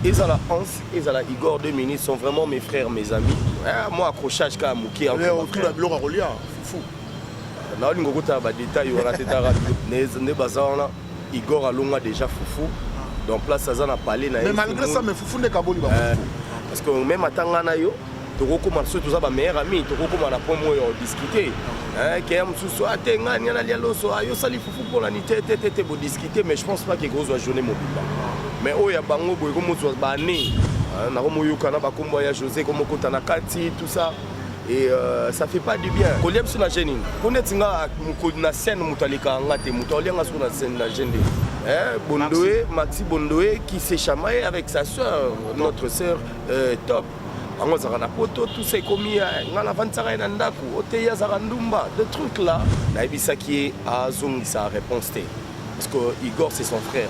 ezala Hans ezala Igor deux minutes sont vraiment mes frères mes amis ah, moi accrochage kaka moke otuna biloko akolia fufu ah, naolinga okotala badetail wana te tara nde baza wana Igor alonga déjà fufu donc place aza na palais na ye mais malgré ça mais fufu nde kaboli ba euh, parce que même atanga na yo tokokoma biso toza ba meilleur ami tokokoma na pomo oyo odiscute eh, keya mosusu ate ah, ngai niana lia loso ayo ah, osali fufu mponani te te te te bodiscute mais je pense pas ke kozwa journée mobimba mais oyo ya bango boye komozwa bane eh, nakomoyoka na bakombo ya josé komokota na kati tout ça et euh, ça fait pas du bien kolia biso na gene nini mpo neti nga mokoli na scène moto alekaka nga te moto aolia nga soko na scène na gene nde Hein, Bondoé, Maxi. Bondoé qui s'est chamaillé avec sa soeur, notre soeur euh, Top. yango azalaka na poto tusa ekomi eh, ngai navandisaka ye na ndako oteyi azalaka ndumba de truc là nayebisaki ye azongisa réponse te parce que igor c'est son frère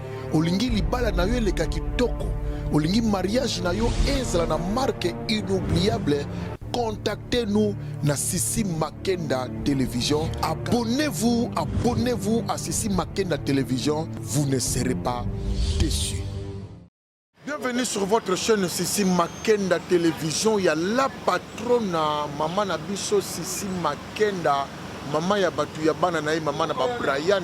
Olingi libala na yo eleka kitoko, olingi mariage na yo ezala na marque inoubliable contactez-nous na Sissi Makenda Télévision. Abonnez-vous, abonnez-vous à Sissi Makenda Télévision. Vous ne serez pas déçus. Bienvenue sur votre chaîne Sissi Makenda Télévision ya la patrona mama na biso Sissi Makenda mama ya bato ya bana na ye mama na ba Brian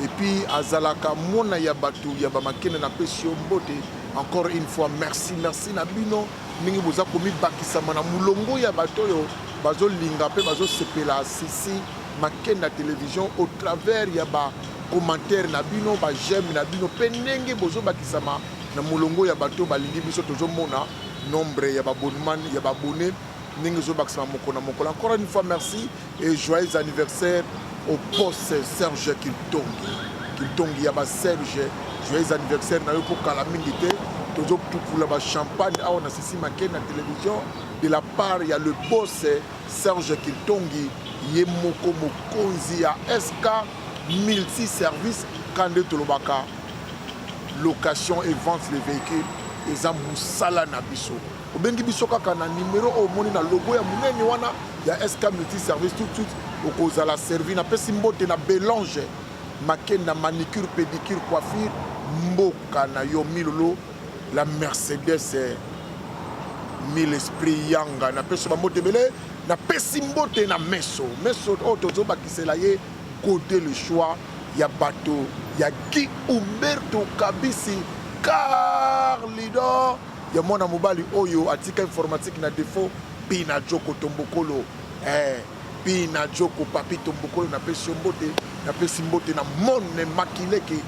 et puis azalaka mwana ya bato ya ba Makenda na pesi yo mbote encore une fois merci merci na bino ndenge boza komibakisama na molongo ya bato oyo bazolinga mpe bazosepela Sissi Make na television au travers ya ba commentaires na bino ba j'aime na bino pe ndenge bozo bakisama na molongo ya bato balingi biso tozo mona nombre ya ba bonman ya ba bonne ndenge ezo bakisama moko na mokolo encore une fois merci et joyeux anniversaire au poste Serge Kiltongi Kiltongi ya ba Serge joyeux anniversaire na yo ko kala mingi te tozo tukula ba champagne awa na sisi make na television de la part ya le boss Serge Kiltongi ye moko mokonzi ya SK multi service ka nde tolobaka location et vente de vehicule eza musala na biso obengi biso kaka na numero oyo omoni na logo ya munene wana ya SK multi service tout de suite okozala servi napesi mbote na Belange makenda manicure pedicure coiffure mboka na yo milolo la mercedes mille esprit yanga na peso ba mbote ebele na pesi mbote na meso meso oyo oh, tozobakisela ye gode le choix ya bato ya guy umberto kabisi car leader ya mwana mobali oyo atika informatique na defaut pina joko tombokolo eh. Pina Djoko Papito Mbokolo na pesi yo mbote na pesi mbote na Monne Makileke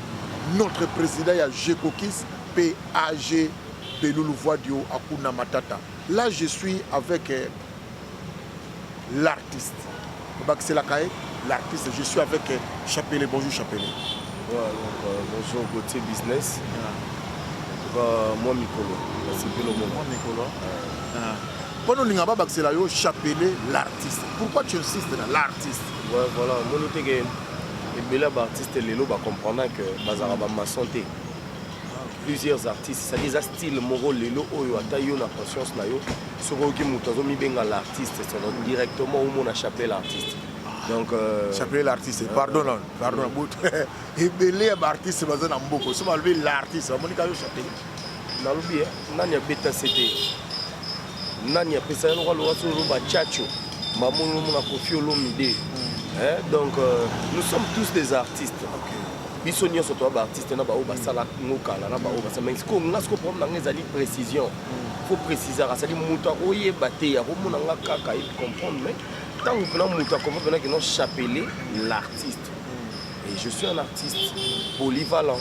notre president ya Jekokis pe AG Belulu Voidio Akuna Matata là je suis avec euh, l'artiste bakiselaka ye l'artiste je suis avec euh, Chapele bonjour Chapele voilà, donc, euh, bonjour Gauthier Business yeah. en tout cas moi mikolo nasepeli omona moi mikolo yeah. Pona olinga ba bakisela yo chapelet l'artiste. Pourquoi tu insistes na l'artiste? Ouais voilà, moni te ke ebele ba artistes lelo ba comprendre que bazala ba maçon te. Plusieurs artistes, ça des style moko lelo oyo ata yo na conscience na yo, soki oyoki moto azo mibenga l'artiste, c'est directement au mona chapelet l'artiste. donc euh, chapelet l'artiste euh, pardon euh, pardon bout ebele ya ba artiste baza na mboko so balobi l'artiste bamoni ka yo chapelet nalobi eh, nani abeta cd nani apesa ye lokola lowa solo loba chacho mbamoni lomona kofi olomide hmm. eh, donc euh, nous sommes tous des artistes biso nyonso toya baartiste na baoyo basala ngo kala na baoyo basala mais sikoyo nga sikoyo problème na nga ezali précision hmm. faut précisaka azali moto akoyeba te akomona nga kaka ye comprendre mais ntango mpena moto akomona mpena kino chapelet l'artiste hmm. et je suis un artiste polyvalent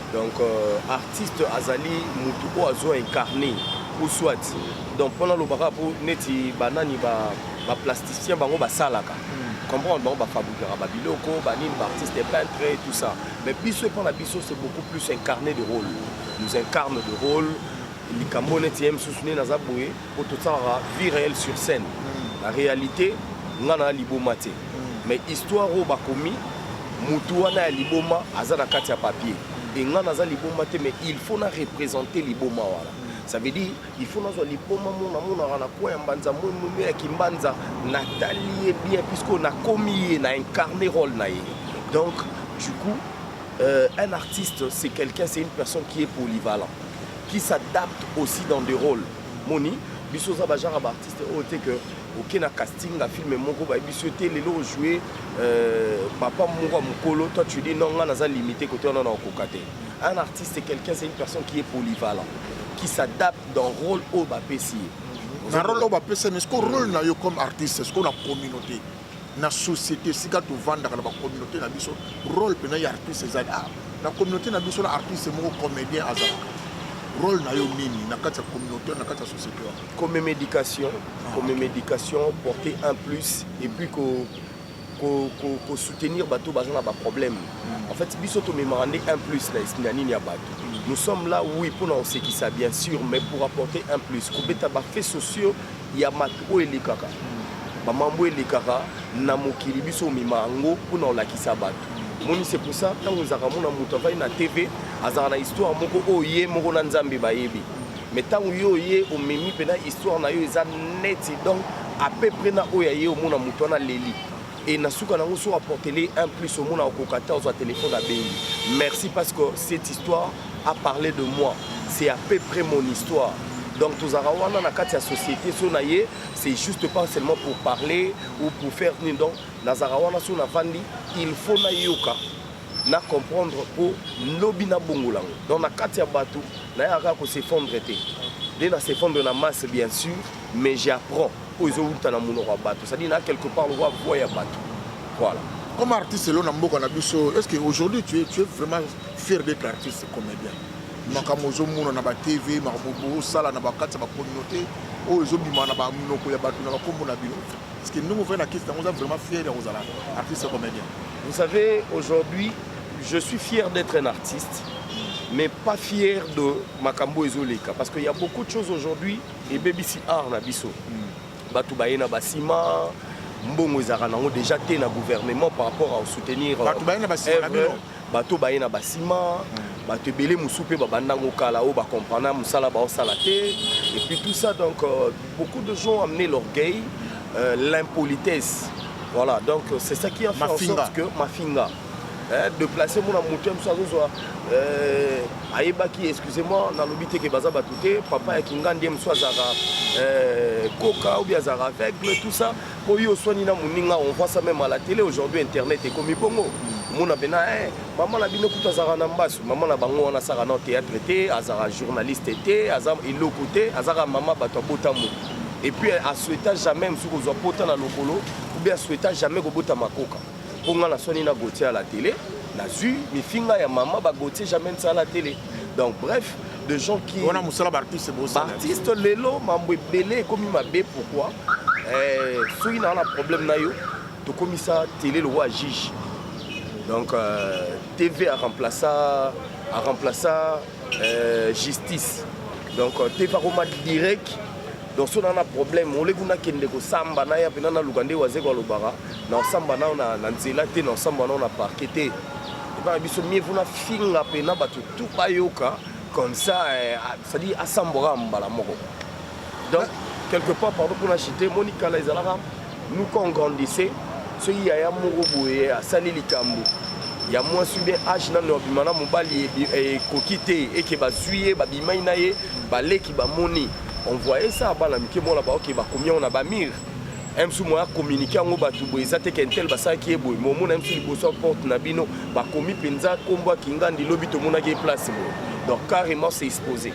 donc euh, artiste azali mutu oyo azo incarne ou soit donc mpona alobaka mpo neti banani baplasticien ba bango basalaka hmm. comprendre bango bafabrikaka babiloko banini baartiste peintre et tout ça mais biso epa na biso c'est beaucoup plus incarné de rôle nous incarne de rôle likambo neti ye mosusu nde naza boye po tosalaka vie réelle sur scène mm. na réalité nga na liboma te mm. mais histoire oyo bakomi mutu wana ya liboma aza na kati ya papier e nga naza liboma te mais il faut na représenter liboma wana mm. ça veut dire il faut nazwa liboma mona monaka na coin ya mbanza momomi ya kimbanza natali ye bien puisque nakomi ye na incarne role na ye donc du coup euh, un artiste c'est quelqu'un c'est une personne qui est polyvalent qui s'adapte aussi dans des rôles moni biso oza bagenre baartiste oyo te ke oke na casting na filme moko bayebisi yo te lelo ojoue euh, papa moko ya mokolo toi tu dis non ngai naza limité kote wana na okoka te un artiste quelqu'un c'est une personne qui est polyvalent qui s'adapte dans rôle oyo bapesi ye na rôle oyo bapesami siko rôle na yo comme artiste siko na communauté na société esika tovandaka na ba communauté na biso role mpena ya artiste ezali ah, na communauté na biso na artiste moko comédien azalaka role na yo nini na kati ya communauté na kati ya société wana comme même éducation ah, comme même éducation porter un plus et puis ko ko, ko, ko soutenir bato baza na baproblème mm. en fait biso tomemaka nde un plus na esina nini ya bato mm. nous sommes là oui mpona kosekisa bien sûr mais pour apporter un plus kobeta bafaits sociaux ya mato oyo elekaka bamambo elekaka na mokili biso omema yango mpo na kolakisa bato moni c'est pour ça ntango ezalaka mona moto avandi na tv azalaka na histoire moko oyo ye moko na nzambe bayebi mais ntango yo oye omemi mpena histoire na yo eza neti donc à peu près na oyo aye omona moto wana leli et na suka nango so apportele un plus omona okoka te ozwa telefone abengi merci parce que cette histoire a parlé de moi c'est à peu près mon histoire donc tozalaka wana na kati ya société so na ye c'est juste pas seulement pour parler ou pour faire nini donc nazalaka wana so navandi il faut nayoka na comprendre mpo lobi nabongola yango donc na kati ya bato nayaka kaka kosefondre te nde nasefondre na masse bien sûr mais j'apprends oyo ezowuta na monoko ya bato cestadire na quelque part lokola voi ya bato voilà comme artiste elo na mboka na biso est ce que aujourd'hui tu es, tu es vraiment fier d'être artiste comédien makambo ozomona na batv makambo osala na bakati ya bacommunauté oyo ezobima na baminoko ya bato na bakombo na bino parce que ndenge ofai na kisi yango oza vraiment fier ya kozala artiste comédien vous savez aujourd'hui je suis fier d'être un artiste mais pas fier de makambo ezoleka parce qu'il y a beaucoup de choses aujourd'hui ebebisi art na biso bato baye na basima mbongo ezalaka nango déjà te na gouvernement par rapport à soutenir bato baye na basima na bino bato baye na basima bato ebele mosusu mpe babandango kala oyo bacomprana mosala baosala te et puis tout ça donc euh, beaucoup de gens amener l'orgueil euh, l'impolitesse voilà donc c'est ça qui a fait en sorte que mafinga eh, deplace mona moto ya mosu azozwa eh, ayebaki excusez-moi nalobi te ke baza bato te papa ya kingandi ye mosu azalaka eh, koka obi azalaka aveugle tout ça mpo yo oswani na moninga on voit ça même à la télé aujourd'hui internet ekomi bongo mona mpena eh, mama na bino kutu azalaka na mbasu mama na bango wana asaka na théâtre te azalaka journaliste te aza eloko te azaka mama bato abotambo et puis asweta jamais mosuku kozwa pota na lokolo obi asweta jamais kobota makoka po nga na soni na Gauthier à la télé nazwi mifinga ya mama ba Gauthier jamais nsa à la télé donc bref de gens qui wana musala ba artiste bo sala artiste lelo mambo ebele ekomi mabe pourquoi eh, soki na wana problème na yo tokomisa télé le roi juge donc euh, TV a remplaça a remplaça euh, justice donc euh, TV akoma direct donc so nana problème oleki nakende kosamba naya mpena naluka nde wazeko alobaka na osamba nao na, na nzela te na osamba nao na parke te epai na biso mie vuna finga mpena bato tu bayoka comme ça eh, cestadire asambwaka mbala moko donc quelque part pardon mpona chite moni kala ezalaka nous quand on grandissait soki yaya moko boye asali likambo ya mwasi bien age nano abima na mobali ekoki te eke bazwi ye babimai na ye baleki bamoni on voyait ça bana mike mona baoke bakomi yango na bamire msu moya communique yango bato boye eza te kentel basalaki ye boye momona msu liboso ya porte na bino bakomi mpenza nkombo ya kingandi lobi tomonaki ye place boye donc carrément se expose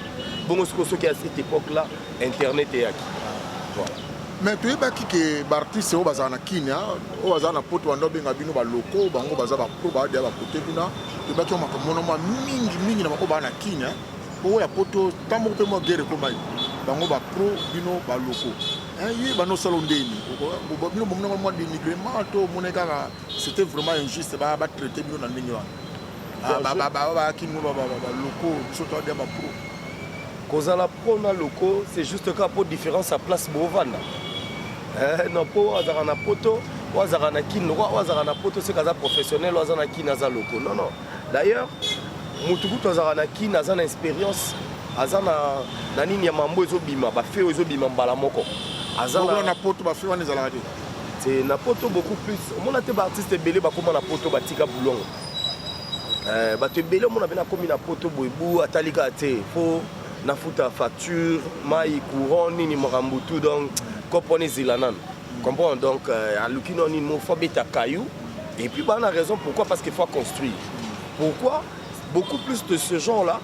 bongo sikoyo soki ya cette époque là internet eyaki voilà mais toyebaki ke baartiste oyo bazala na kine oyo bazala na poto banda obenga bino baloko bango baza bapro baadea bakote kuna toyebaki makambo mona mwa mingi mingi na bango baa na kine oyo ya poto ntango moko mpe mwa guerre ekomaki bango bapro bino baloko Hein, ye bando osala ondeni bino bomona ngo mwa dénigrement to omona kaka c'était vraiment injuste batraite bino na ndenge wana bayaki ngo baloko biso toadia bapro kozala pro na loko c'est juste kaka mpo différence ya place bovanda eh, non mpo azalaka na poto oyo azalaka na kini lokola oyo azalaka na poto seke aza professionnel oyo aza na kini aza loko non non D'ailleurs, mutu kutu azalaka na kin aza na experience aza na na nini ya mambo ezobima bafeo ezobima mbala moko aza Bongo na poto bafeo wana ezalaka te te na poto beaucoup plus omona te baartiste ebele bakóma na poto batika bulongo eh, bato ebele omona mpe nakomi na poto boebu atali kaka te mpo nafuta facture mai courant nini makambo tout donc kopo wana ezela nano Comprends donc euh, aluki no nini faut beta caillou et puis bana raison pourquoi parce qu'il faut construire. Pourquoi beaucoup plus de ce genre là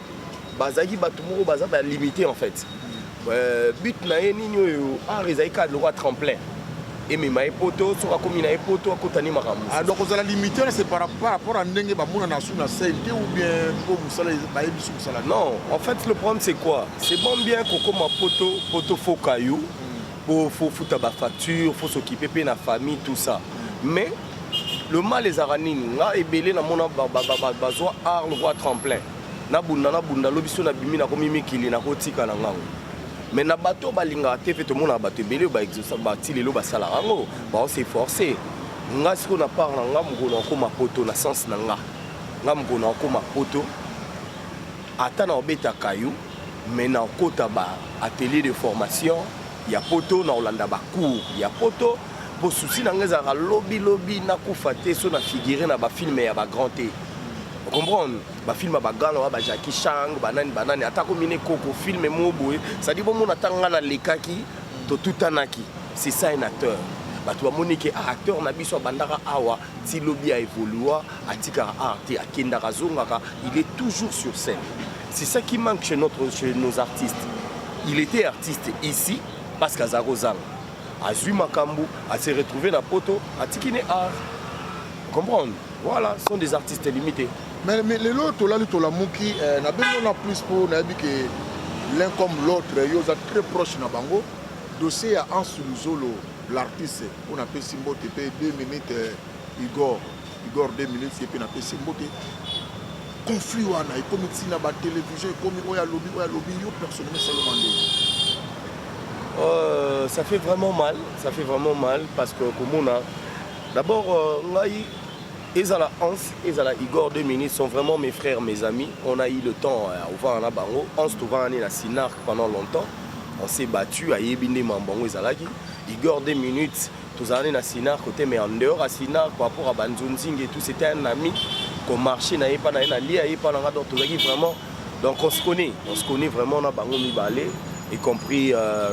bazaki bato moko baza ba limité en fait. Euh, but na ye nini oyo art ah, ezali kaka lokola tremplin emema ye poto soki akomi na ye poto akotani makambo ah, donc ozala limité na c'est par rapport à ndenge bamonana su na scène te ou bien po mosala bayebi su mosala non en fait le problème c'est quoi c'est bon bien kokoma poto poto foka yo po faut futa ba facture faut s'occuper pe na famille tout ça mais le mal ezalaka nini nga ebele namona bazwa arle voi tremplin nabunda nabunda lobi so nabimi nakomi mikili nakotika na ngango mais na bato balingaka te mpe tomonaka bato ebele oyo bati lelo basalaka yango baose force nga sikoyo na part na nga mokolo akoma poto na sense na nga nga mokolo akoma poto Ata na obeta caillou mais na okota ba atelier de formation ya poto na olanda ba cours ya poto po souci na nga ezalaka lobi lobi na kufa te so na figure na ba film ya ba grand te comprendre ba film ba gala wa ba Jackie Chang ba nani ba nani ata ko mine koko film mo boye ça dit bon mona tanga na lekaki to tutanaki c'est ça un acteur bato bamoni ke ah, acteur na biso abandaka awa ti lobi a evolua atikaka art te akendaka azongaka il est toujours sur scène c'est ça qui manque chez, notre, chez nos artistes il était artiste ici parce que azalaka ozanga azwi makambo ase retrouve na poto atiki ne art comprendre voilà sont des artistes limités mais, mais lelo tolali tolamuki eh, na bengo na plus mpo nayebi ke l'un comme l'autre yo oza très proche na bango dossier ya ansu luzolo L'artiste mpo napesi mbote mpe 2 minutes euh, Igor Igor 2 minutes ye mpe napesi mbote conflit wana ekomi ntina ba télévision ekomi oyo alobi oyo alobi yo personnellement esaloma ndenge Euh, ça fait vraiment mal, ça fait vraiment mal parce que Komona, d'abord, euh, Ezala Hans, ezala Igor, deux minutes sont vraiment mes frères, mes amis. On a eu le temps à Ouvana na bango. Hans Tovani na Sinarc pendant longtemps. On s'est battu à Yebinde Mambango ezalaki. Igor deux minutes tozalani na Sinarc côté mais en dehors à Sinarc par rapport à Banzunzing et tout c'était un ami qu'on marchait na epa na ye na lia epa na nga donc tozalaki vraiment donc on se connaît, on se connaît vraiment na bango mibale y compris euh,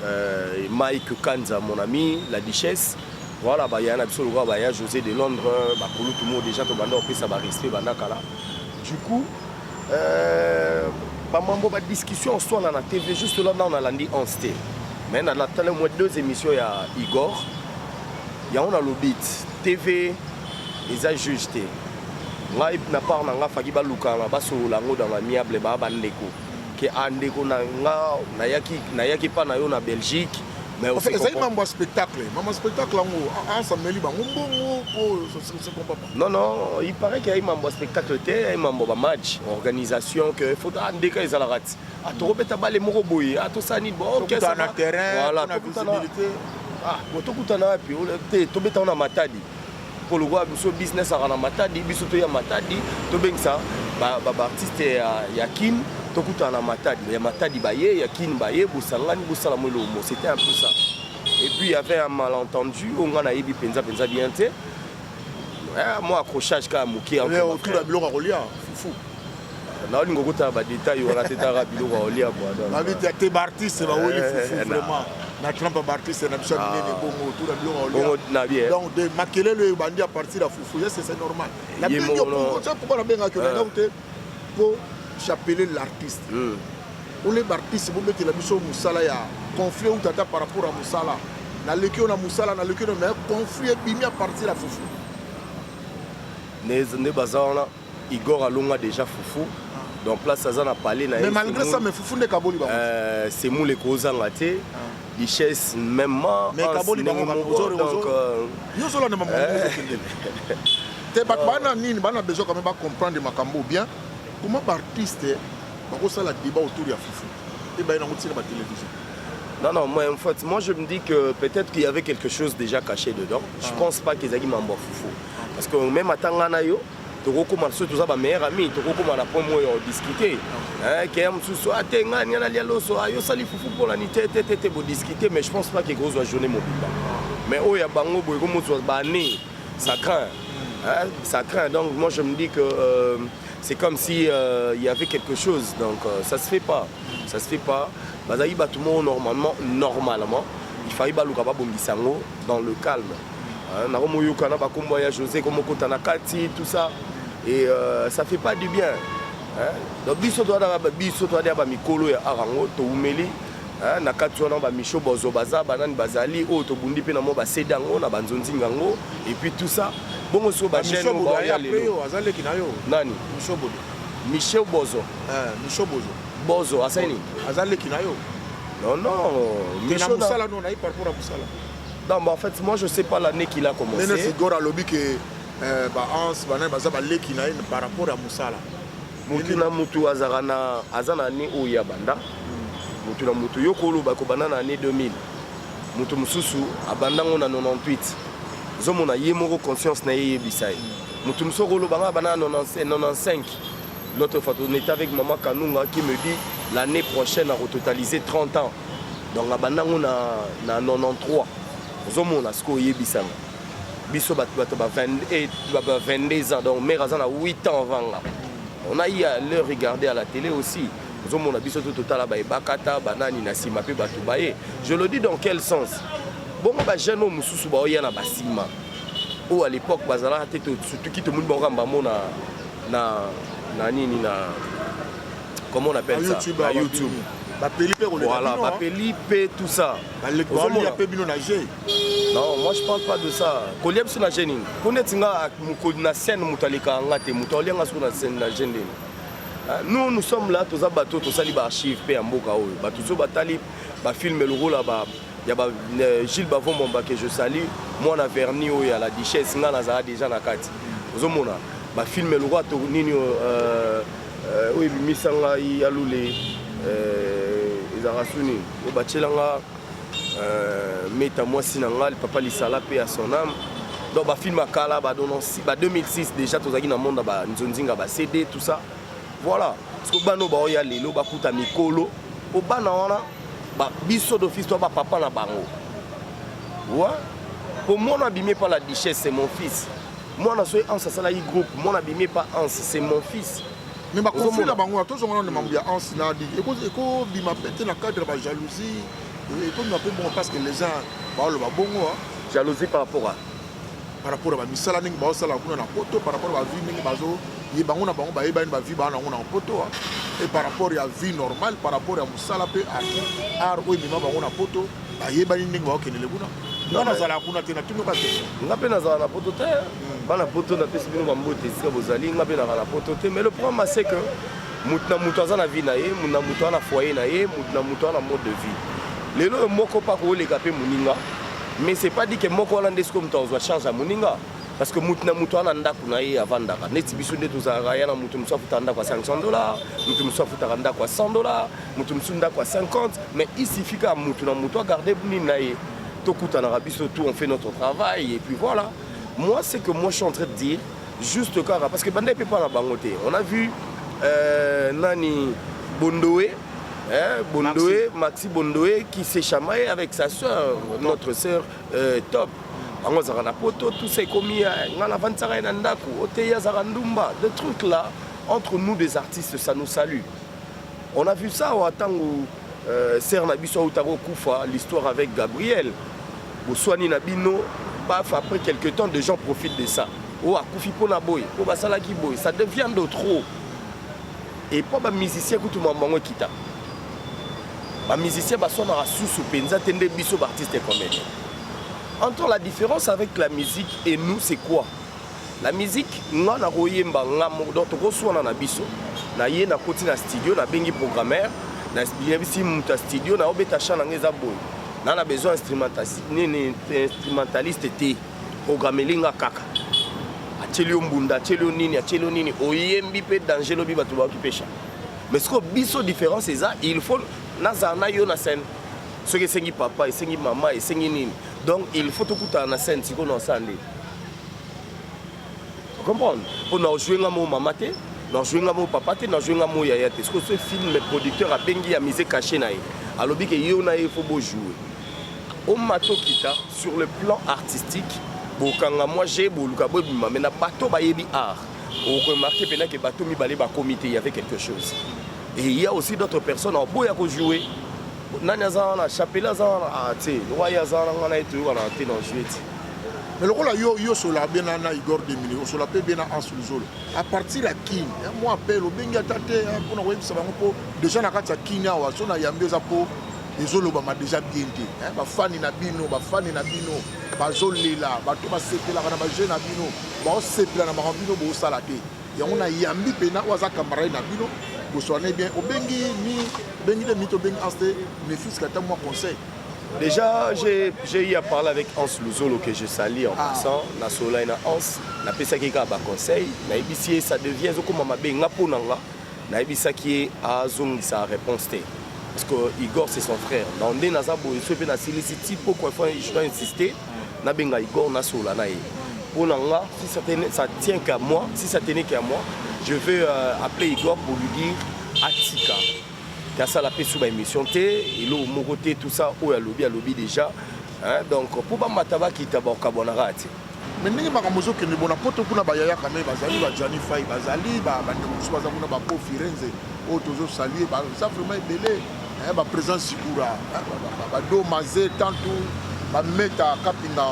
euh, Mike Kanza mon ami, la duchesse Voilà ba yaya na biso lokola ba yaya José de Londres, ba kulutu mo déjà to banda opesa ba respect banda kala. Du coup, euh, ba mambo ba discussion swana na TV juste là na on a landi en sté. Mais na la tala moi deux émissions ya Igor. Ya on a le beat TV ils a juge te. Ngai na part na nga faki ba lukana ba solola ngo dans l'amiable ba ba ndeko. Ke andeko na nga na yaki na yaki pa na yo na Belgique. mais aussi ezali mambo ya spectacle mambo ya spectacle yango asameli bango mbongo po non non il paraît que ayi mambo ya spectacle te ayi mambo ba match organisation que faut ah, ndeka ezalaka ti atokobeta ah, bale moko boye atosala ah, nini bokesana terrain voilà tokutana wapi te tobetana na matadi mpo lokola biso business aka na matadi biso toya matadi tobengisa baartiste ba, ya, ya kin tokutana na matadi ya matadi baye ya kin baye bosangani bosala mo elongo c'était un peu ça et puis il y avait un malentendu oyo ngai nayebi mpenza mpenza bien te eh, mwa accrochage kaka moke biloko ya kolia fufu naolinga okotala badetail wana te taka biloko aolia bwababita te baartiste baweli eh, fufu eh, vraiment na trumpe baartiste na biso ya ah. minene bongo tuna biloko aolia donc de makelelo oyo ebandi a partir ya fufu yese c'est normal napokoba nabengaki onangaku eh. te mpo chapele l'artiste hmm. ole baartiste bobetela biso mosala ya conflit ou tata par rapport ya mosala naleki yo na mosala naleki yo na conflit ebimi a partir ya fufu nde baza wana Igor alonga deja fufu donc place aza na palais na mais malgré ça mais fufu nde kaboli bango euh, semoule ekozanga te ah. richesse même mais kaboli bango ozo donc euh, yo zola na maman eh. te bato bana nini bana besoin quand même ba comprendre makambo bien comment ba artiste bakosala débat autour ya fufu et ba yango tika ba télévision Non, non, moi, en fait, moi je me dis que peut-être qu'il y avait quelque chose déjà caché dedans. Je ah. pense pas qu'ils aient dit Mambo Foufou. parce que même ata ngai na yo tokokoma soki toza bameilleur ami tokokoma na point moyo odiscute keya eh, mosusu ate ah, ngai ngai nalia loso ah, yo osali fufu mpolani te te te te bodiscute mais je pense pas kekozwa journée mobimba mais oyo ya bango boye komozwa baannée ça craint hein, ça craint donc moi je me dis que euh, c'est comme si euh, il y avait quelque chose donc euh, ça se fait pas ça se fait pas bazali bato moko normalement normalement il fallait baluka babongisa yango dans le calme Hein, nakomoyoka na bakombo ya josé komokota na kati tout ça et euh, ça fait pas du bien hein? donc biso toyaka biso toyaka bamikolo ya art yango toumeli hein? na kati wana bamisho bozo baza banani bazali oyo tobundi mpe na mwa basede yango na banzonzinga yango et puis tout ça bongo siko bachaine azaleki na yo nani michel bozo eh, michel bozo bozo asali nini aza leki na yo non non na mosala no nayi parcours ya mosala Non, mais en fait, moi, je sais pas l'année qu'il a commencé. Nene Sigora alobi que euh, ba ans bana baza ba leki na ye par rapport ya musala. Mutu na mutu azaka na aza na année oyo ya banda. Mutu na mutu yo koloba ko banda na année 2000. Mutu mususu abanda ngo na 98. Zomo na ye moko conscience na ye yebisa ye. Mutu mususu koloba nga banda na 95. L'autre fois on était avec maman Kanunga qui me dit l'année prochaine à totaliser 30 ans. donc abanda yango na, na 93 ozomona sikoyo oyebisanga biso bato bato ba 22 ans donc mare aza na 8 ans avant nga on a ia leur regarder à la télé aussi ozomona biso to totala baye bakata banani na nsima mpe bato baye je le dis dans quel sens bongo bajeune oyo mosusu baoya na basima oyo à l'époque bazalaka te surtout ki tomoni bango kamba mona na, na nini na comment on appelle ça na youtube bapeli mpe koleka voilà hein. bapeli mpe tout ça ozomona mpe bino na jeu non moi je parle pas de ça kolia biso na jeu nini mpo neti nga mokoli na scène moto alekaka nga te moto aolia nga soko na scène na jeu nini ah, nous nous sommes là toza bato tosali baarchive mpe ya mboka oyo bato so batali bafilme lokola ba ya ba euh, Gilles Bavon Mombake je salue mwana verni oyo ya la duchesse nga nazala déjà na kati ozomona bafilme lokola to nini euh, Euh, oyo ebimisa ngai ya lule euh, ezalaka suni oyo batyela nga euh, meta mwasi na ngai papa lisala mpe ya son ame donc bafilme ya kala ba 2006 déjà tozalaki na monde ya banzonzinga ba cd tout ça voilà parceke bana oyo baoya lelo bakuta mikolo mpo bana wana biso d'office to bapapa na bango wa mpo mwana abimi epa la duchesse mon fils mwana soki anse asalaki groupe mwana bimi epa anse c'est mon fils mais bakonflit na bango tozonga nano mambo ya anse na ligi ekobima mpe te na cadre ya bajalousie ekobima mpe bongo parce que les uns baoloba bongo jalousie par rapport à par rapport ya bamisala ndenge baosala kuna na poto par rapport ya bavie ndenge bazoye bango na bango bayebani bavie baa nango na poto e par rapport ya vie normale par rapport ya mosala mpe art oyo emema bango na poto bayebani ndenge baokendele kuna nga nazala kuna te natuni yoka question nga mpe nazala na poto te hmm. bana poto napesi bino bambote esika bozali nga mpe nazala na poto te mais le problème c'est que moto na moto aza na vie na ye moto na moto aza na foyer na ye moto na moto aza na mode de vie lelo oyo moko mpa kooleka mpe moninga mais c'est pas dit que moko wana nde sikoyo moto akozwa charge ya moninga parce que moto na moto ana ndako na ye avandaka neti biso nde tozalaka ya na moto mosusu afutaka ndako ya 500 dollar moto mosusu afutaka ndako ya 100 dollar moto mosusu ndako ya 50 mais il suffit kaka moto na moto agarde nini na ye tokutanaka biso tout on fait notre travail et puis voilà moi c'est que moi je suis en train de dire juste kaka parce que banda epe epa na bango te on a vu euh, nani bondoe Hein, Bondoé, Maxi. Maxi Bondoé qui s'est chamaillé avec sa soeur, notre soeur euh, Top. bango azalaka na poto tout ça ekomi ngai navandisaka ye na ndako oteyi azalaka ndumba de truc là entre nous des artistes ça nous salue On a vu ça wa tangu euh, sœur na biso auta ko kufa l'histoire avec Gabriel. Boswani na bino paf après quelque temps des gens profitent de ça. Oh akufi pona boy, po basala ki boy, ça devient de trop. Et po ba musicien kutu mambango kita. Ba musicien baswanaka susu penza te nde biso ba artiste comédien. Entre la différence avec la musique et nous c'est quoi? La musique nga na koyemba nga moko donc tokoswana na biso na ye nakoti na studio nabengi programmeur nayebisi moto ya studio naobeta chan na nga eza boye na na besoin nini instrumentaliste te programmeli nga kaka atyeli yo mbunda atyeli yo nini atyeli yo nini oyembi mpe danger lobi bato baoki pesha mais sikoyo biso différence eza il faut nazala na yo na scène soki esengi papa esengi mama esengi nini donc il faut tokutana na scène sikoyo na osala nde comprendre mpo na ojue nga mo mama te na ojue nga mo papa te na ojue nga mo yaya te sikoyo ce film producteur abengi ya mise cache na ye alobi ke yo na ye fo bojoue omata okita sur le plan artistique bokanga mwa je boluka bobima mai na bato bayebi art okomarke mpena ke bato mibale bakomi te y avait quelque chose et il y a aussi d'autres personnes oboya kojoue nani aza wana chapele aza wana ah, te lokola ye aza wana ngana ye toyokana te na jue ti mais lokola yo yo osola be na na igor demini osola mpe be na anse luzolo à partir ya kin ya mwa appel obengi ata te mpona koyebisa bango mpo déjà na kati ya kin awa so na yambi eza mpo ezolobama déjà bien te bafani na bino bafani na bino bazolela bato basepelaka na bajeu na bino baosepela na makambo bino bosala te yango na yambi pena oyo aza camarade na bino boswane bien obengi ni obengi de mito obengi anse mefis kata mwa conseil Déjà, j'ai eu à parler avec Hans Luzolo que je salue en ah. passant. Na sola na Hans, na pesa ki ka ba conseil, na ebisi ça devient zo koma mabe nga pona nga. Na ebisa ki a zong sa réponse te. Parce que Igor c'est son frère. Na onde na za boye so pe na silisi tipo quoi faut je dois insister. nabenga igor nasolola na ye mpo na nga si ça tenait ça tient qu'à moi si ça tenait qu'à moi je vais euh, appeler igor pour lui dire atika te asala mpe su baémission te eloko moko te tout ça oyo alobi alobi déjà hein, donc mpo bamata bakita bakabwanaka te mais ndenge makambo ozokende bona poto kuna bayaya kame bazali bajani fai bazali bandeko mosusu baza kuna bapo firenze oyo tozosalue baza vraiment ebele eh, ba president sikura eh, ba do maze tantu ba meta kapinga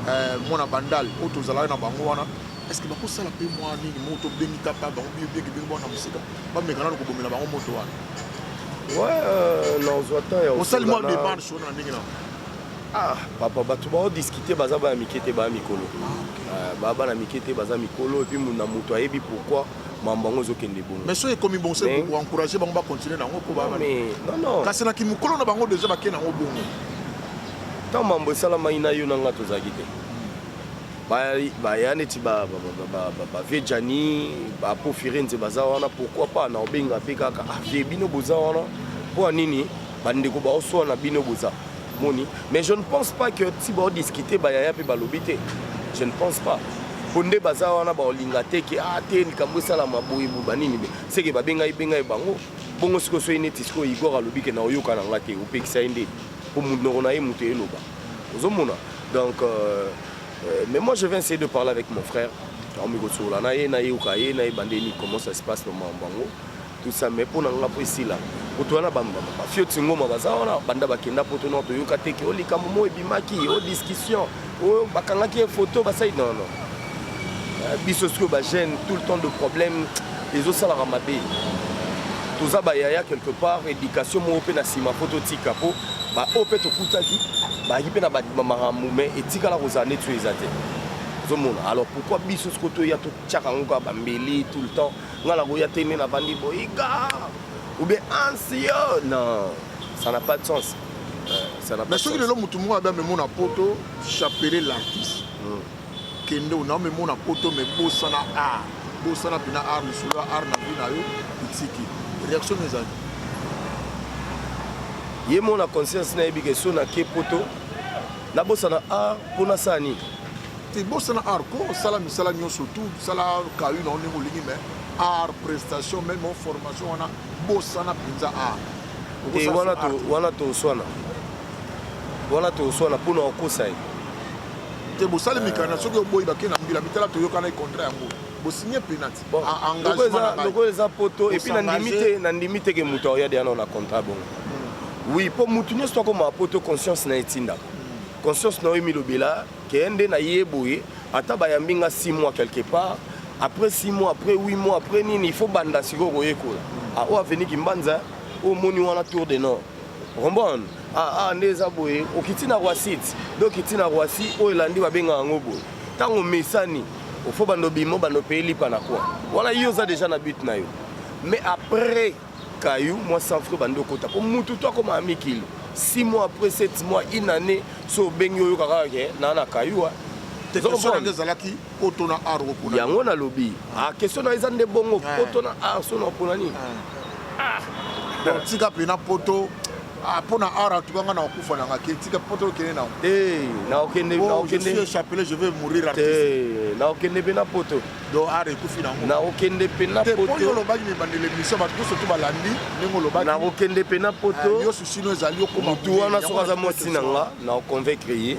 eh, mwana bandal oyo tozalaki na bango wana est-ce que bakosala mpe mwa nini moto bengi kapa bango biyo bengi bengi mwana mosika bameka nano kobomela bango moto wana euh, osali mwa demarche wana na ndenge nao ah papa bato baodiscute baza bana mike te baya mikolo ah, euh, baya bana mike te baza mikolo epuis na moto ayebi pourquoi mambo yango ezokende bongo mais soki ekomi bongo se encourager bango bacontinue nango mpo baa kasi na kimokolo na bango deja bakei nango bongo ntango mambo esalamaki na yo na ngai tozalaki te baya neti bavie jani bapo firenze baza wana pourkui pas na obenga mpe kaka avie ah, bino boza wana mpo ya nini bandeko baoswana bino boza moni mais je ne pense pas que ti bao discuter ba yaya pe balobi te je ne pense pas po nde baza wana baolinga te ke a ah, te likambo esalama boye boba nini be seke babengai bengai bango bongo sikoyo soki neti sikoyo igor alobi ke na oyoka na nga te opekisa ye nde po monoko na ye moto eloba ozomona donc euh, euh, mais moi je vais essayer de parler avec mon frère aomi kosolola na ye nayoka ye nayeba nde nini comment ça se passe na makambo yango tout ça mais pona nga po esila kutu wana bafioti ngoma baza wana banda bakenda poto nao toyoka te ke o likambo moko ebimaki o discussion oyo bakangaki ye foto basali nono euh, biso sikoyo bagene tout le temps de problème ezosalaka mabe toza bayaya quelque part éducation moko mpe na nsima mpo totika mpo baoyo mpe tokutaki bayaki mpe na bamakambo mai etikala kozala neti oyo eza te ozomona alors pourquoi biso sikoyo toya totyaka yango kaka bambeli tout le temps nga nakoya te nde navandi boyika ou bien ansio non ça n'a pas de sens euh, mais soki lelo motu moko abe amemo na poto chapele l'artiste hmm. kende ona amemo na poto me bosana art bosana mpena art lisolo ya art na vie na yo itiki réaction no ezali ye mona conscience nayebi ke so nake poto nabosana art mpo nasala nini te bosana art ko sala misala nyonso tu sala kayu na ndenge olingi mais art prestation meme formation wana bosana mpenza art te wana to wana to swana wana to swana pona okosa ye te bosali mikanda soki oboyi bake na mbila mitala toyokana ekontra yango bosigne penati lokola eza poto epuis nandimi te nandimi te ke moto aoya deya nao na contrat bongo hmm. oui mpo moto nyonso akoma poto conscience na etindaka hmm. conscience na yo emilobela Ken nde na ye boye ata bayambi nga 6 mois quelque part après 6 mois après 8 mois après nini il faut banda sikoyo koyekola ah, oyo aveni kimbanza oyo moni wana tour de nord rombone ah, ah, nde eza boye okiti na roisite nde okiti na roisi oyo elandi babengaka yango boye ntango omesani ofo bando bimo bando peye lipa na kwa wana yo oza deja na but na yo mais après Caillou, moi sans frais bande okota po mutu to akoma ami kilo 6 mois après 7 mois une année so obengi oyoka kaka ke na na Caillou yango nalobi ah, question na eza nde bongo poto na ar so na opona nini ah. Ah. tika pena poto Ah, mpo na art antuka nga nakokufa nanga ke tika mpo tokende nango eh, naokende oh, naokende chapelet je vais mourir artiste eh, naokende mpe na poto do art ekufi nango nakokende mpe na poto olobaki mibandela emission bato nyonso to balandi ndenge olobaki nakokende mpe na poto eh, yo susino ezali okoma motu wana soki aza mwasi na nga nakoconvaincre ye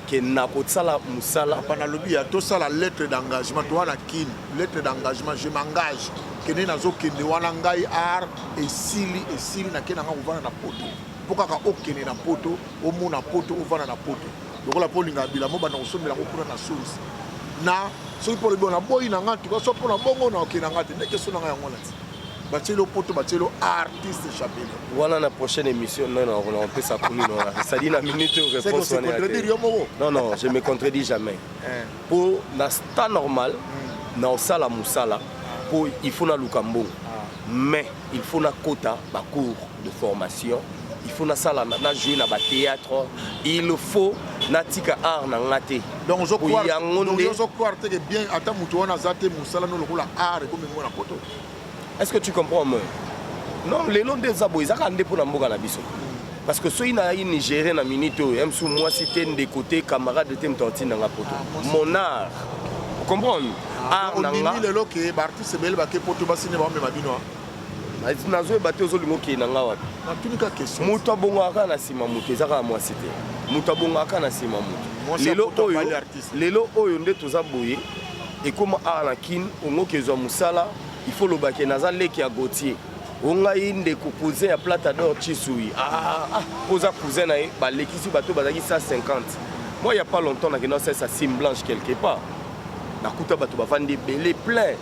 ke nakosala mosala apa nalobi ya tosala lettre d'engagement toa na kin lettre d'engagement je m'engage kende nazokende wana ngai art esili esili nake na ngai kovanda na poto mpo kaka okende na poto omona poto ovanda na poto lokola mpo olingaka bilamo banda kosombela yango kuna na source na soki mpo olobi naboyi na ngai tuka so mpo na bongo na okei na ngai te nde keso na ngai yango nati batieli yo poto batieli yo artiste chapele wana na prochaine émission non non on peut ça kuni non ça dit na minute ou réponse on est yo moko non non je me contredis jamais eh. pour na sta normal hmm. na osala musala pour il faut na luka mbongo ah. mais il faut na kota ba cours de formation il faut nasala na jouer na ba théâtre il faut natika art na nga te donc ozo croire yango nde ozo croire te que bien ata mutu wana za te musala no lokola art et comme ngona poto est-ce que tu comprends moi non lelo nde eza boye ezaka nde mpo na mboka na biso parce que soki nayaki nigérien na minute oyo ya mosusu mwasi te ndeko te camarade te moto atinda nga poto ah, mon art comprendre ah, art na nga lelo ke baartiste ebele bake poto basine baomema bino nazoyeba te ozolinga okei na ngai wapi natunika question moto abongaka kaka na nsima moto eza kaka mwasi te moto abongaka kaka na nsima moto lelo oyo lelo oyo nde toza boye ekoma awa na kin ongoki ezwa mosala ifo olobake naza leki ya gautier o ngai ndeko cousin ya plata dor chisui ah, ah, ah, ah. oza cousin na ye balekisi bato bazalaki 150 moi ya pas longtemps nakenda osalisa sim blanche quelque part nakuta bato bavandi ebele plein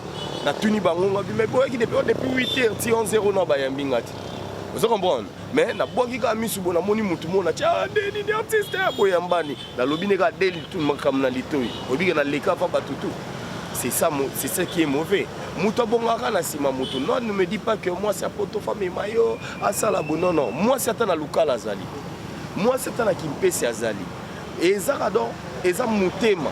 natuni bango ngabi mais boyaki depuis oh, depuis 8 heures ti 11 heures ona bayambi nga te oza comprendre mais nabwaki kaka misu bo namoni motu moko natya ah, deni ni artiste ya boyambani nalobi nde kaka deli tu makambo na litoi obike naleka pa bato tu c'est ça c'est ça qui est mauvais moto abongaka na nsima moto non ne me dis pas que mwasi apoto famema yo asala bo non non mwasi ata na lukala azali mwasi ata na kimpesi azali Ezaka donc eza motema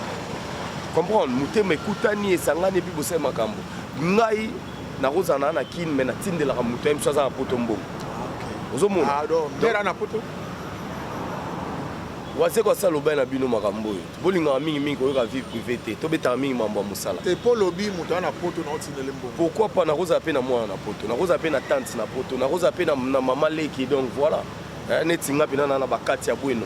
comprendre motema ekutani esangani epi bosali makambo ngai nakozala naa na kine mai natindelaka moto ya biso aza na poto mbongo ozomona wazeko asi alobani na bino makambo oyo bolingaka mingimingi koyoka vie privé te tobetaka mingi mambo ya mosala pourkui pa nakozala mpe na mwana na poto nakozala mpe na tante na poto nakozala mpe na mama leki donc voilà eh, neti nga mpena na na bakati ya bweno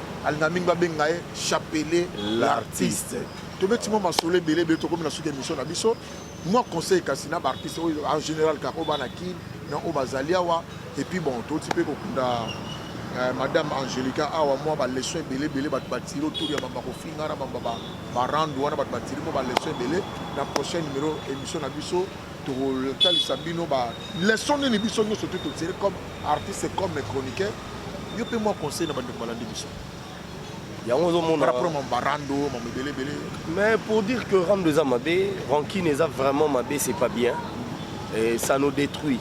Alinga mingi babenga ye Chapele l'artiste. Tobeti mwa masolo ebele ebele tokomi na suki emission na biso. Mwa conseil kasi na baartiste oyo en général kaka oyo bana kin na oyo bazali awa et puis bon toti mpe kokunda eh, madame Angelica awa mwa ba leçon ebele ebele bato batiri autour ya bamba kofinga na bamba ba, ba rando wana bato batiri mwa ba leçon ebele na prochain numéro émission na biso tokotalisa bino ba leçon nini biso nyonso te totire comme artiste comme chroniqueur yo mpe mwa conseil na bandeko balandi biso yango ozomona rapport ma barando ma ebele ebele mais pour dire que rando eza mabe rankine eza vraiment mabe c'est pas bien Et ça nous détruit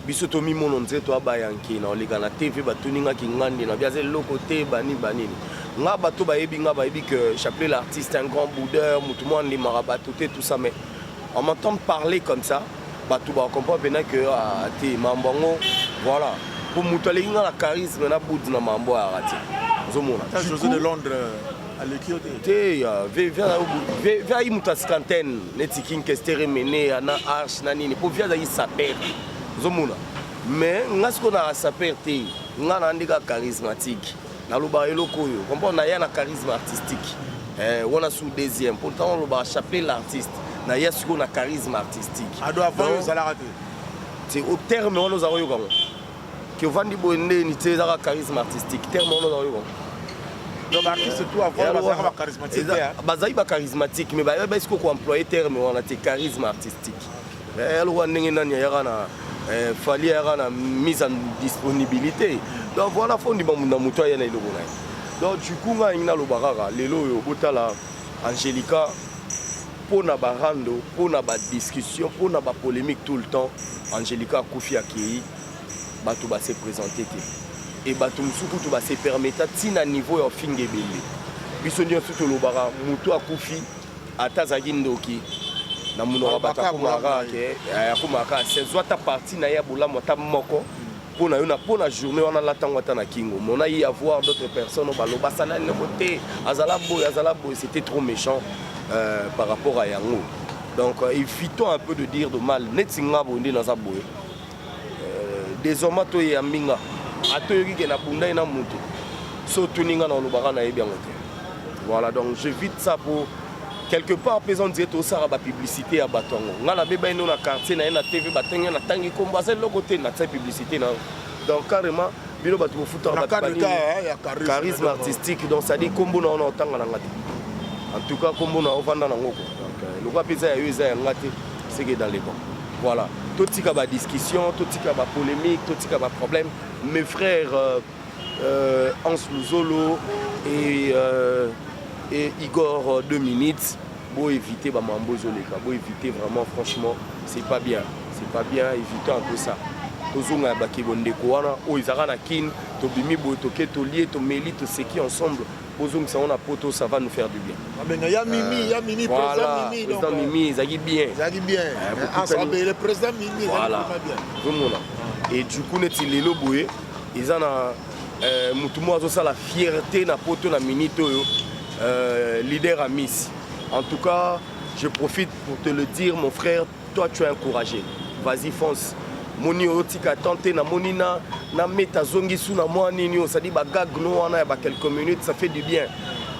biso tomimona nze toabaya nki na oleka na te mpe batuni nga kingandi na biaza eloko te bani banini nga bato bayebi nga bayebi que chapelet l'artiste un grand boudeur motu mwa andimaka bato te tout ça mais On m'entend parler comme ça, bato ba comprendre pena que ah, te mambo yango voilà. Po moto aleki nga na charisme na bout na mambo ya rati. Ozomona. Ta José de Londres euh, aleki yo te. Te ya vivia na vivia yi moto askanten neti King Kester Mene na Arch na nini po vivia azaki saper. Ozomona. Mais nga siko na saper te. Nga na ndika charismatique. naloba eloko oyo comprendre naya na charisme artistique eh, wana sous deuxième mpo ntango olobaka chapelet l'artiste naya sikoyo na charisme artistique ado avant yo ozalaka te te au terme wana ozalaka oyoka ngo ke ovandi boye ndeni te ezaka charisme artistique terme wana ozalaka oyoka bazali bacharismatique mais bayebi esiko koemploye terme wana te charisme artistique Eh, ya lokola ndenge nani ayaka na eh, fali ayaka na mise en disponibilité donc wana fo ndima na moto aya na eloko na ye donc du coup ngai alingi naloba kaka lelo oyo botala angelica mpo na barando mpo na badiscussion mpo na bapolémique tout le temps angelica akufi akei bato base présente te e bato mosusu kutu base permeta ntina niveau ya ofinga ebele biso nyonso tolobaka moto akufi Ata azalaki ndoki na munoko ya bato akomaka ke eh, akomaka se zwa ata parti na ye ya bolamu ata moko mpo na yo na mpo na journée wana alata yango ata na kingo mona ye avoir d'autres personnes baloba asala eloko te azala boye azala boye c'était trop méchant euh, par rapport à yango donc euh, évitons un peu de dire de mal neti nga boye nde naza boye Euh, Désormais atoye ya mbinga atoyoki ke nabundai na moto so otuni nga na olobaka nayebi yango te voilà donc je vite ça po quelque part mpe eza ondire tosala bapublicité ya bato yango ngai nabeba ino na quartier na ye na tv batenge natangi nkombo aza eloko te natia publicité na yango donc carrément bino bato bofutaka charisme artistique donc cestadire nkombo na yo na otanga na nga te en tout cas nkombo na yo ovanda na ngoko euh, lokola mpe eza ya yo eza ya nga te ce qui est dans les bancs voilà totika ba discussion totika ba polemique totika ba problème mes frères euh, euh, Hans Luzolo et, euh, et Igor euh, deux minutes bo éviter ba mambo ezoleka bo éviter vraiment franchement c'est pas bien c'est pas bien éviter un peu ça tozonga ya bakebo ndeko wana oyo ezalaka na kin tobimi boye toke tolie tomeli toseki ensemble bozongisa yango na poto ça va nous faire du bien abenga ah, ya mimi ya mimi président mimi donc président mimi ezaki bien ezaki bien eh, ensemble le président mimi voilà zomona et du coup neti lelo boye eza na euh, motu moko azosala fierté na poto na minute oyo euh, leader amisi en tout cas je profite pour te le dire mon frère Toi tu es un courageux. Vas-y fonce. moni oyo tika temps te namoni na na meta zongi su na mwa nini oyo sadi bagag no wana ya ba quelques minutes ça fait du bien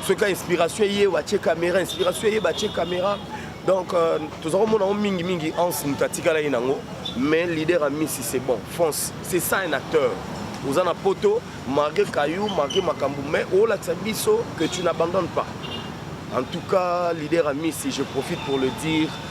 soki inspiration eye batie caméra inspiration eye batie caméra donc euh, toza komona yango mingimingi anse moto atikalaki nango mais leader ya misi c'est bon france c'est ça un acteur oza na poto marke kayu marke makambo mais olakisa biso que tu n'abandonne pas en tout cas leader ya misi je profite pour le dire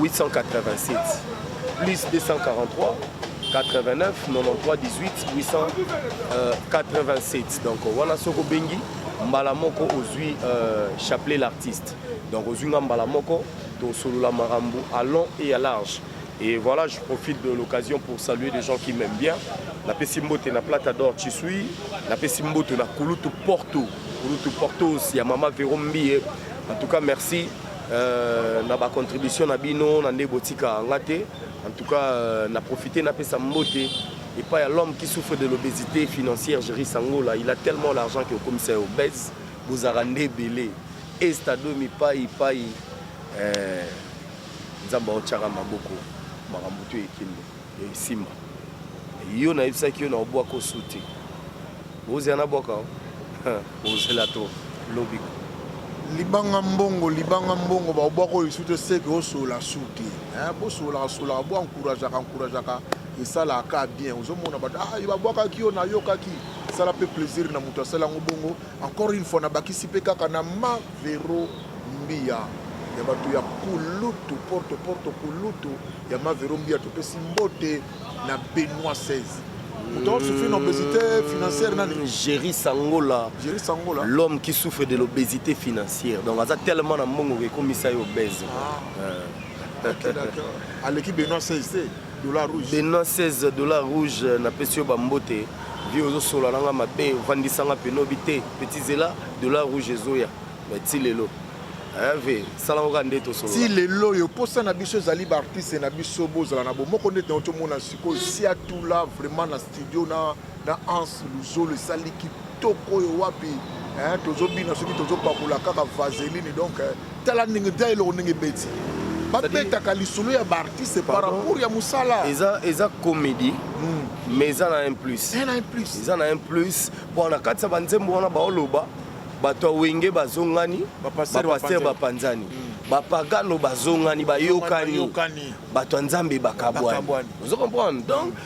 887 plus 243 89 93 18 887 donc wana soki obengi mbala moko ozwi euh, chapelet l'artiste donc ozwi nga mbala moko tosolola makambo à long et à large et voilà je profite de l'occasion pour saluer les gens qui m'aiment bien napesi mbote na plata d'or chisui napesi mbote na kulutu porto kulutu portos ya mama vero mbiye en tout cas merci Euh, na ba contribution na bino na nde botika nga te en tout cas euh, na profite napesa mbote epai ya l'homme qui souffre de l'obésité financière géri sangola il a tellement l'argent que okomisa ya obèse bozalaka nde ebele estado mipai epai euh, nzambe aotyaka maboko makambo to ekende Simba. Yo na yebisaki yo na obwa ko suti. Ozela na bwaka o. Ozela to lobi. Libanga mbongo, libanga mbongo ba obwa ko suti seke o sola suti. Hein, bo sola sola bo encourager ka encourager ka esala ka bien. Ozo mona ba ah, ba bwaka ki yo na yo ka ki. Sala pe plaisir na mutu asala ngo bongo. Encore une fois nabakisi pe kaka na ma Vero Mbiya ya bato ya kulutu porte porte kulutu ya ma Vero Mbiya topesi mbote na Benoit 16 Pourtant, souffrir d'une obésité financière. Géry Sangola, Géry Sangola. l'homme qui souffre de l'obésité financière. Donc, il a tellement de monde qui est obèse. Ah. Euh. Okay, d'accord. Aleki Benoît 16. Dollar rouge. Benoit 16 dollar rouge na pesi yo ba mbote. Vie ozo sola nanga mabe, vandisa nga peno bite. Petit zela dollar rouge ezoya. Mais ti lelo. Eh ve, sala ngo ka ndeto solo. Ti lelo yo posa na biso ezali ba artistes na biso bozala na bomoko ndete na otomona sikoyo siatula vraiment na studio na na ans luzolo esali kitoko oyo wapi eh, tozobina soki tozopakola kaka vaseline donc eh, tala ndenge ta eloko ndenge ebeti babetaka lisolo ya baartiste par rapport ya mosala eza, eza comédie mm. mais eza na un plus eh, eza na un plus mpo na kati ya banzembo wana baoloba bato ya wenge bazongani bapaster bapanzani mm. bapagano bazongani bayokani bato ya nzambe bakabwani ozo comprendre donc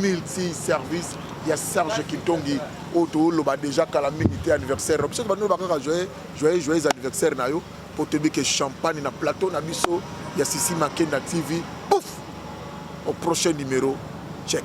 multi-service ya Serge Kitongi oyo toloba deja kala mingi te anniversaire biso bando ba kaka joyeux joyeux joyeux anniversaire na yo po toyebi ke champagne na plateau na biso ya Sisi Makenda TV pouf au prochain numéro check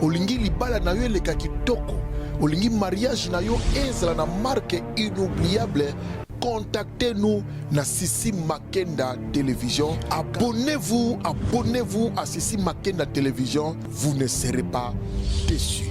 Olingi libala na yo eleka kitoko? Olingi mariage na yo ezala na marque inoubliable? Contactez-nous na Sissi Makenda Télévision. Abonnez-vous, abonnez-vous à Sissi Makenda Télévision. Vous ne serez pas déçus.